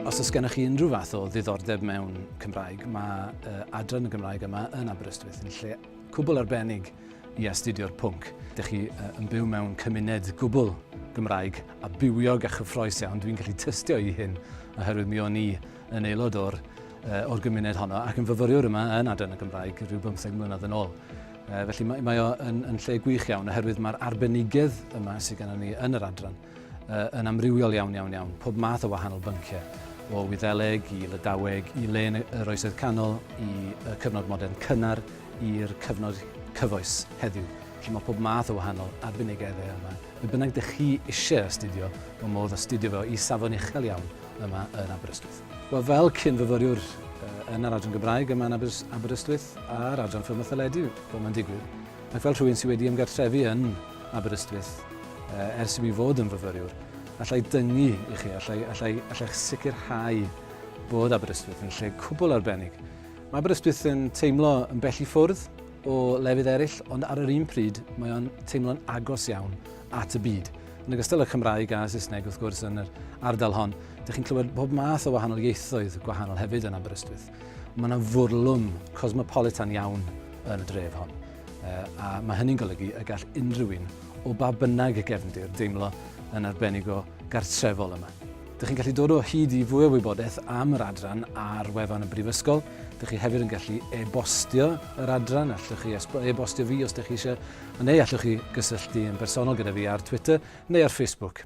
Os oes gennych chi unrhyw fath o ddiddordeb mewn Cymraeg, mae uh, adran y Gymraeg yma yn Aberystwyth yn lle cwbl arbennig i astudio'r pwnc. Dych chi uh, yn byw mewn cymuned gwbl Gymraeg a bywiog a chyffroes iawn. Dwi'n gallu tystio i hyn oherwydd mi o'n i yn aelod o'r, uh, or gymuned honno ac yn fyfyriwr yma yn adran y Gymraeg rhyw bymtheg mlynedd yn ôl. E, felly mae, mae o yn, yn lle gwych iawn oherwydd mae'r arbenigedd yma sydd gennym ni yn yr adran e, yn amrywiol iawn iawn iawn, pob math o wahanol bynciau, o Wyddeleg i Lydaweg, i len yr Oesoedd Canol, i y cyfnod modern cynnar, i'r cyfnod cyfoes heddiw. Felly mae pob math o wahanol arbenigeddau yma. Be bynnag dych chi eisiau astudio, mae modd astudio fo i safon uchel iawn yma yn Aberystwyth. Wel, fel cyn-fyfyriwr yn yr Adran Gymraeg yma yn Aberystwyth a'r Adran Ffilm a Theledu, fel mae'n digwydd, ac fel rhywun sydd wedi ymgartrefu yn Aberystwyth ers i mi fod yn fyfyriwr, allai dyngu i chi, allai, allai, allai sicrhau bod Aberystwyth yn lle cwbl arbennig. Mae Aberystwyth yn teimlo yn bell i ffwrdd o lefydd eraill, ond ar yr un pryd mae o'n teimlo'n agos iawn at y byd. Yn ogystal â Chymraeg a Saesneg wrth gwrs yn yr ardal hon, dych chi'n clywed pob math o wahanol ieithoedd gwahanol hefyd yn Aberystwyth. Mae yna fwrlwm cosmopolitan iawn yn y dref hon, a mae hynny'n golygu y gall unrhyw un o ba bynnag gefndir deimlo yn arbennig o gartrefol yma. Dych chi'n gallu dod o hyd i fwy o wybodaeth am yr adran ar wefan y Brifysgol. Dych chi hefyd yn gallu e-bostio yr adran, allwch chi e-bostio fi os dych chi eisiau Neu allwch chi gysylltu yn bersonol gyda fi ar Twitter neu ar Facebook.